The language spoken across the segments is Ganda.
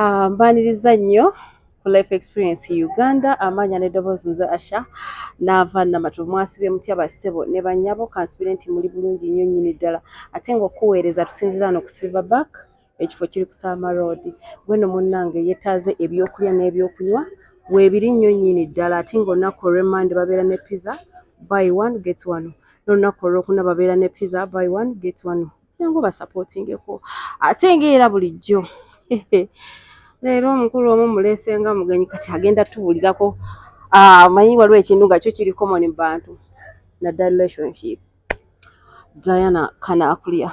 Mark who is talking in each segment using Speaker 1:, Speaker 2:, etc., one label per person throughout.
Speaker 1: Ah, mbaniriza nnyo ku life experience uganda amaanya n'eddoboozi nze asha naava namatu mwasibye mutya bassebo ne banyabo kansubire nti muli bulungi nnyo nnyini ddala ate ng'okuweereza tusinzira wano ku silver back ekifo kiri ku salma road gweno munnange yetaaze ebyokulya n'ebyokunywa weebiri nnyo nnyini ddala ate ng'olunaku olw'emmande babeera ne pizza by one get one n'olunaku olwokuna babeera ne pizza by one get one jangu basapootingeko ate ngaera bulijjo leero omukulu omu muleese nga mugenyi kati agenda tubulirako ah, manyi waliwo ekintu nga kyo kiri common mu bantu naddala relationship diana kanakulya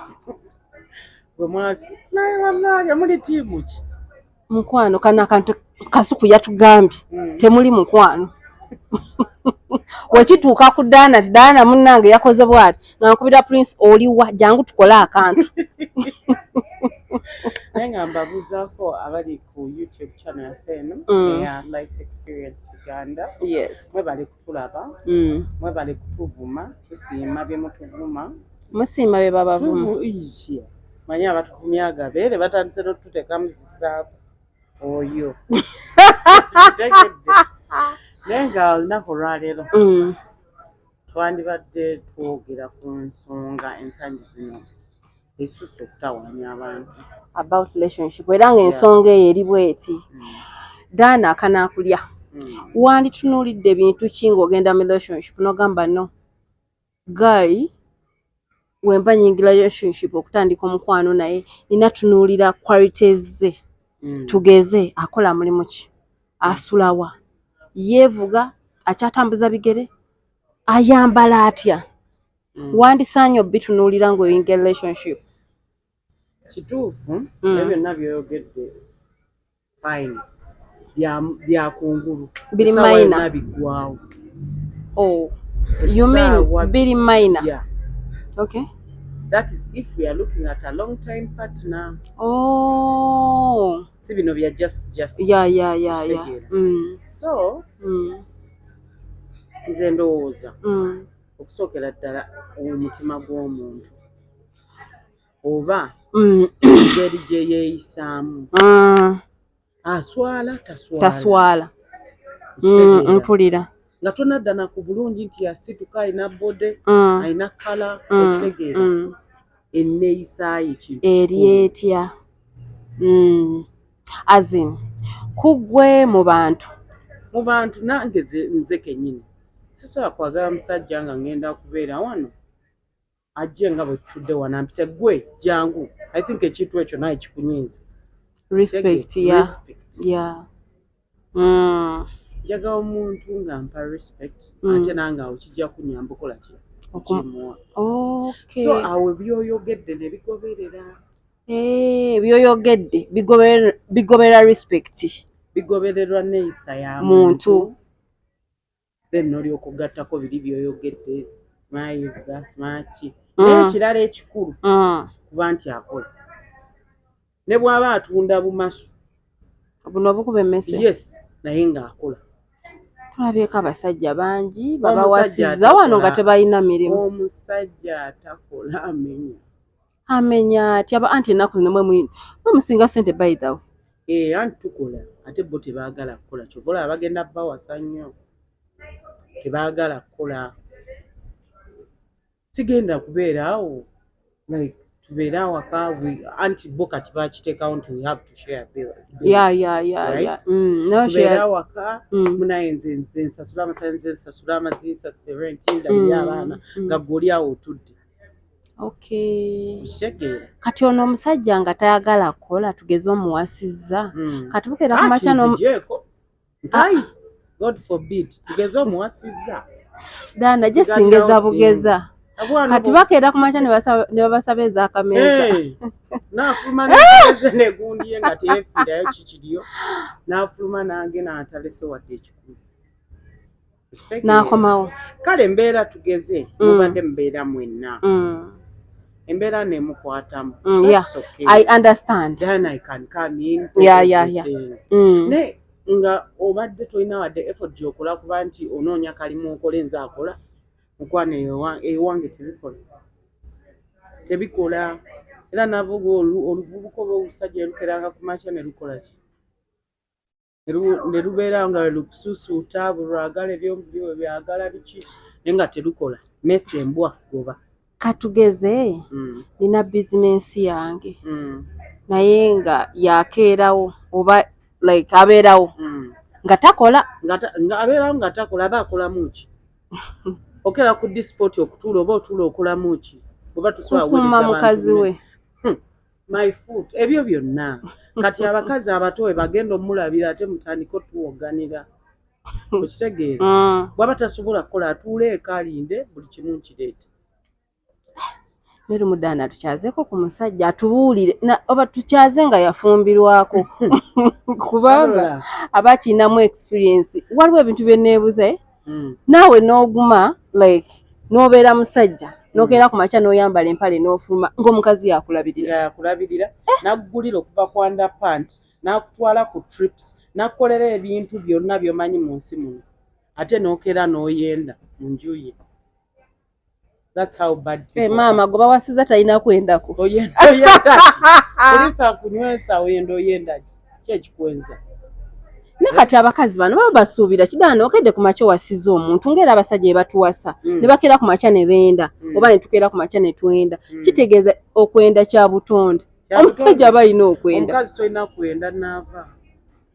Speaker 2: gwe mwasi naye bannange muli tiimu ki mukwano kana
Speaker 1: kantu kasuku yatugambye mm. temuli mukwano wekituuka ku daana ti daana munnange yakoze bwati ngankubira prince oliwa jangu tukole akantu
Speaker 2: naye nga mbabuzaako abali ku youtube channel yaffe eno mm. eya life experience uganda yes mwebali ku
Speaker 1: tulaba
Speaker 2: mm. mwebale kutuvuma tusiima byemutuvuma musiima
Speaker 1: byebabavuma manyi
Speaker 2: abatuvumya agabeere batandise notuteka muzisaako oyo tegedde naye nga olunaku olwaleero mm. twandibadde twogera ku nsonga ensangi zino esusse okutawaanya abantu about relationship
Speaker 1: era ng'ensonga eyo eri bweti mm. daana akanaakulya mm. wanditunuulidde bintu ki ng'ogenda mu relationship n'ogamba no guy wemba nyingira relationship okutandika omukwano naye nina tunuulira qualities ze mm. tugeze akola mulimu ki asulawa yeevuga akyatambuza bigere ayambala atya mm. wandisaanye obitunuulira ng'oyinga relationship
Speaker 2: kituufu mm. byonna byoyogedde fine byakungulu biri maina
Speaker 1: biggwawo
Speaker 2: oh
Speaker 1: you mean biri maina yeah.
Speaker 2: okay
Speaker 1: that is
Speaker 2: if we are looking at a long time partner oh
Speaker 1: si bino bya
Speaker 2: just just yeah yeah yeah
Speaker 1: yeah mm. so
Speaker 2: mm. nze ndowooza mm. okusookera ddala omutima gw'omuntu oba mm. engeri gye yeeyisaamu ah. aswala taswala
Speaker 1: mm, mpulira nga
Speaker 2: tonaddana ku bulungi nti yasituka alina bode mm. alina kala okutegeera enneeyisaayo ekintu eri etya
Speaker 1: as in kugwe mu bantu mu bantu
Speaker 2: nange nze kenyini sisobola kwagala musajja nga ngenda kubeera wano ajje nga bwe tutudde wano ampite gwe jangu i think ekintu ekyo naye kikunyiiza respect
Speaker 1: ya ya
Speaker 2: mm. njagala omuntu nga mpa respect mm. ate nange awo kijja kunyamba okola ki okimuwa so awo ebyoyogedde nebigoberera Eh, byoyogedde
Speaker 1: bigobera respect bigobererwa
Speaker 2: neeyisa ya muntu then nolyoka okugattako biri byoyogedde smayiga smaki mm. naye ekirala ekikulu mm. kuba nti akola ne bwaba atunda bumasu buno
Speaker 1: obukuba emmese yes naye
Speaker 2: ng'akola tulabyeko
Speaker 1: abasajja bangi babawasiza wano nga tebalina mirimu omusajja
Speaker 2: atakola amenya
Speaker 1: amenya atya ba anti ennaku zino mwe musinga sente by the way ee eh, anti
Speaker 2: tukola ate bo tebaagala kukola kyova olaba bagenda bawasa nnyo tebaagala kukola sigenda kubeera awo like tubeere awaka anti bo kati bakiteekawo nti we have to share billtubeere mm, awaka mm. munaye nze nze nsasula amasanyalaze nsasula amazi nsasula renti ndabiri mm, abaana nga gwe oli awo otudde
Speaker 1: kati ono omusajja nga tayagala kukola tugeze omuwasizza hmm. kati bukeera
Speaker 2: kumakya
Speaker 1: dana gye singeza bugeza kati bakeera ku makya ne babasaba ezakameeza nafuluma
Speaker 2: neze negundiye nga teyefiirayo kikiriyo nafuluma nange natalese wadde ekikulu n'akomawo
Speaker 1: kale embeera
Speaker 2: tugeze mm. mubadde mubeera mwenna mm. embeera nemukwatamu
Speaker 1: mm,
Speaker 2: naye nga obadde tolina wadde effort gyokola kuba nti onoonya kalimu okola enze akola mukwano ewange tebikola tebikola era navuga oluvubuka oba olusajja erukeranga ku makya ne lukola ki ne lubeera nga lukusuusuuta buli lwagala ebyomubiri we byagala biki naye nga terukola mesi embwa goba katugeze
Speaker 1: mm. nina bizinensi yange mm. naye nga yakeerawo oba like abeerawo mm. nga takola abeerawo
Speaker 2: nga takola aba akolamu ki okera ku disipoti okutuula oba otuula okolamu ki oba tusobola kukuuma mukazi
Speaker 1: we hmm. my
Speaker 2: foot ebyo byonna kati abakazi abato we bagenda omulabira ate mutandika otuwoganira okitegeera mm. bwaba tasobola kukola atuula eka alinde buli kimu nkireete
Speaker 1: nerumudaana tukyazeko ku musajja atubuulire oba tukyaze nga yafumbirwako kubanga aba akirinamu experience waliwo ebintu byeneebuza eh? mm. naawe n'oguma like n'obeera musajja nokeera mm. ku makya n'oyambala empale n'ofuluma ng'omukazi yakulabirira yakulabirira
Speaker 2: eh. naggulira okuva ku underpant n'akutwala ku trips n'akukolera ebintu byonna by'omanyi mu nsi muno ate n'okeera n'oyenda mu nju ye That's how bad people. Hey, mama goba wasiza
Speaker 1: talina kwendako oyenda oyenda kulisa
Speaker 2: kunywesa oyenda oyenda kyekikwenza ne
Speaker 1: kati abakazi bano baba basuubira kidaana okedde ku makya owasiza omuntu ngaera abasajja ebatuwasa mm. ne bakeera ku makya ne benda mm. oba ne tukeera ku makya ne twenda mm. kitegeeza okwenda kya butonde omusajja aba alina okwenda omukazi tolina kwenda
Speaker 2: naava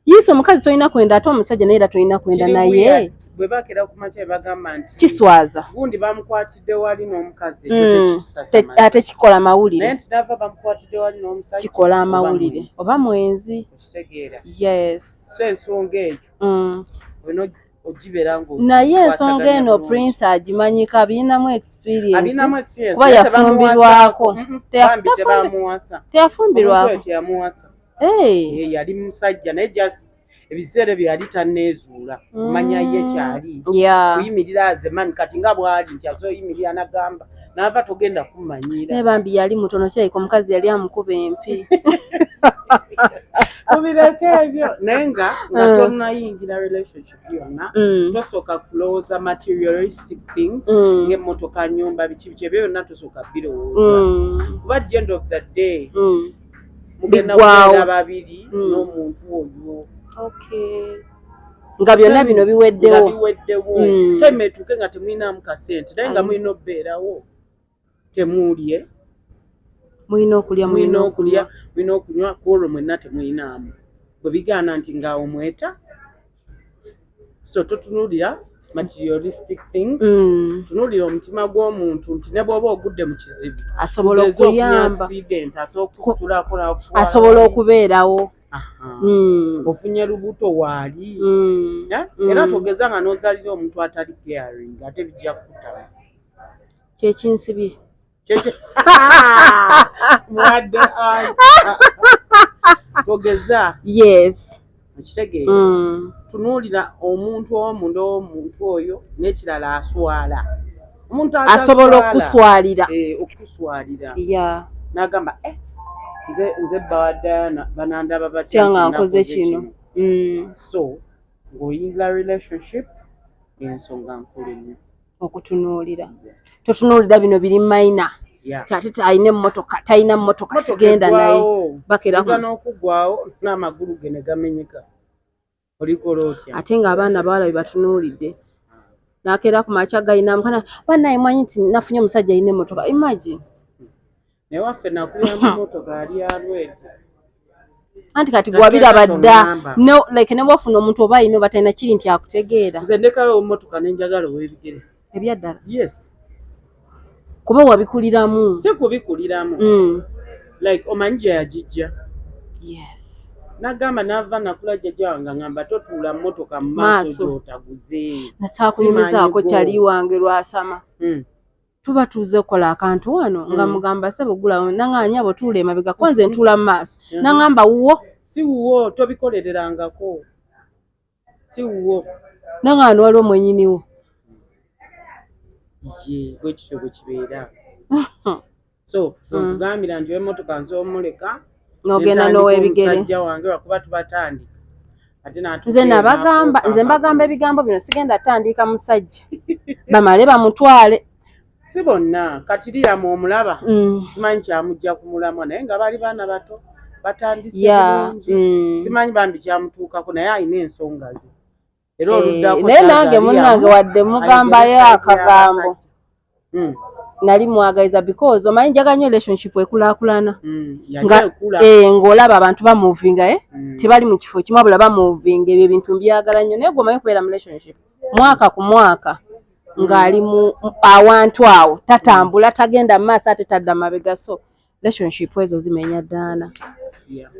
Speaker 2: Yise omukazi
Speaker 1: tolina kwenda ate omusajja naye era tolina kwenda naye bwe bakera ku makya
Speaker 2: be bagamba nti kiswaza gundi
Speaker 1: bamukwatidde
Speaker 2: wali n'omukazi mm. ate
Speaker 1: kikola mawulire naye nti nava bamukwatidde
Speaker 2: wali n'omusajja kikola amawulire
Speaker 1: oba mwenzi okitegeera yes so ensonga
Speaker 2: eyo mm. olina ogibeera ngo naye ensonga
Speaker 1: eno prince agimanyiko abirinamu experiensekuba yafumbirwako teyafumbirwako
Speaker 2: hey. Eh, yali musajja naye just ebiseera ebyo yali tanneezuula kumanya mm. ye kyali kuyimirira yeah. azemani kati nga bwali nti azoyimirira nagamba naava togenda kumanyiira naye bambi yali mutono
Speaker 1: kyaika omukazi yali amukuba empi
Speaker 2: tubireko ebyo naye nga nga mm. tonayingira relationship yonna mm. tosooka kulowooza materialistic things mm. ngaemmotoka nyumba biki biki ebyo byonna tosooka birowooza kuba the end of the day biggwawo babiri hmm. n'omuntu oyo
Speaker 1: nga byonna bino biweddewo biweddewo hmm. time
Speaker 2: etuuke nga temulinamu kasente naye nga mulina obeerawo temuulye
Speaker 1: mulina okulya mulina okulya mulina
Speaker 2: okunywa ku olwo mwenna temulinaamu bwe bigaana nti ngaawo mweta so totunulira materialistic things mm. tunulira omutima gw'omuntu nti ne bwoba ogudde mu kizibu asobola
Speaker 1: okuyamba
Speaker 2: asobola okubeerawo
Speaker 1: mm.
Speaker 2: ofunye lubuto waali mm. eh? mm. era togeza nga n'ozalira omuntu atali caring ate bijja kukutaba
Speaker 1: kyekinsibye
Speaker 2: mwadde togeza yes
Speaker 1: okitegeera mm.
Speaker 2: tunuulira omuntu omu ndoomuntu oyo n'ekirala aswala omuntu asobola
Speaker 1: okuswalira eh, okuswalira
Speaker 2: n'agamba eh, nze nze bawadayana banandaba batya nga nkoze kino
Speaker 1: mm. so
Speaker 2: ng'oyingira relationship ensonga nkulu nnyo okutunuulira
Speaker 1: totunuulira bino biri mayina ate talina emmotoka talina mmotoka sigenda naye bakeraho
Speaker 2: n'okugwawo n'amagulu ge ne gamenyeka olikola otya ate ng'abaana bawala be
Speaker 1: batunuulidde nakeera ku makya galina mukana banaye mwanyi nti nafunye omusajja alina emmotoka imagine naye
Speaker 2: waffe nakulira mu motoka ali alwedi
Speaker 1: anti kati gwabiraba dda like ne bwofuna omuntu oba ayina oba talina kiri nti akutegeera nze ndekawo motoka
Speaker 2: nenjagala owebigere ebyaddala yes
Speaker 1: kuba wabikuliramu
Speaker 2: si kubikuliramu mm. like
Speaker 1: omanyi gye
Speaker 2: yagijja yes nagamba nava nakula jjaja wange ngamba totuula motoka mu maaso gyotaguze nasaakunyumizaako
Speaker 1: kyali wange lwasama mm. tuba tuze kola akantu wano mm. nga mugamba sebo gula nanga nyabo tule mabega kwanze mm. ntula maso mm. nanga mba uwo si uwo
Speaker 2: tobikolerera ngako si uwo nanga anu walo
Speaker 1: mwenyini wo
Speaker 2: ye gwe kisho gwe kibera so mm. gambira ndi wemoto kanzo muleka nogenda
Speaker 1: nowebigere musajja wange wakuba
Speaker 2: tubatandika nze nabagamba
Speaker 1: nze mbagamba ebigambo bino sigenda tandika musajja bamale bamutwale si bonna
Speaker 2: kati liyamu omulaba mm. simanyi kyamujja ku mulamwa naye nga bali baana bato batandise bulungi mm. simanyi bambi kyamutuukako naye alina ensonga ze era eh, oluddako naye nange munange
Speaker 1: wadde mugambayo akagambo hmm. nali mwagaliza because omanyi njaga nyo relationship ekulakulana hmm, eh, ngaolaba abantu bamovinga e eh? hmm. tebali mu kifo kimu abula bamovinga ebyo ebintu mbyagala nnyo naye gwomanyi okubeera mu relationship mwaka ku mwaka ng'ali mu awantu awo tatambula tagenda mu maaso ate tadda mabega so relationship ezo zimenya daana yeah.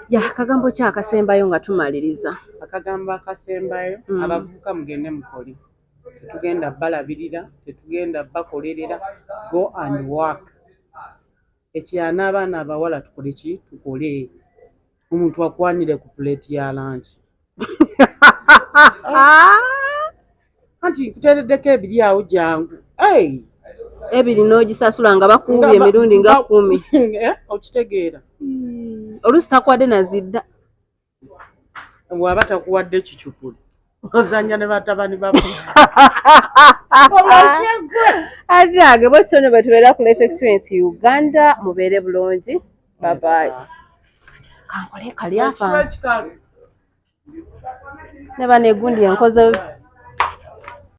Speaker 1: yeah, akagambo ki akasembayo nga tumaliriza akagambo
Speaker 2: akasembayo mm. abavubuka mugende mukoli tetugenda balabirira tetugenda bakolerera go and work ekyana abaana abawala tukole ki tukole omuntu akwanire ku plate ya lunch anti nkuteereddeko ebiri awo jangu
Speaker 1: ebiri n'ogisasula nga bakuuba emirundi nga kumi eh, okitegeera
Speaker 2: hmm.
Speaker 1: oluusi takuwadde nazidda
Speaker 2: bwaba takuwadde kicupuli ozanya ne batabani ba
Speaker 1: ajage bwetyo ne bwetubeera ku life experience uganda mubeere bulungi babayi kankole kali afa ne banegundi enkoze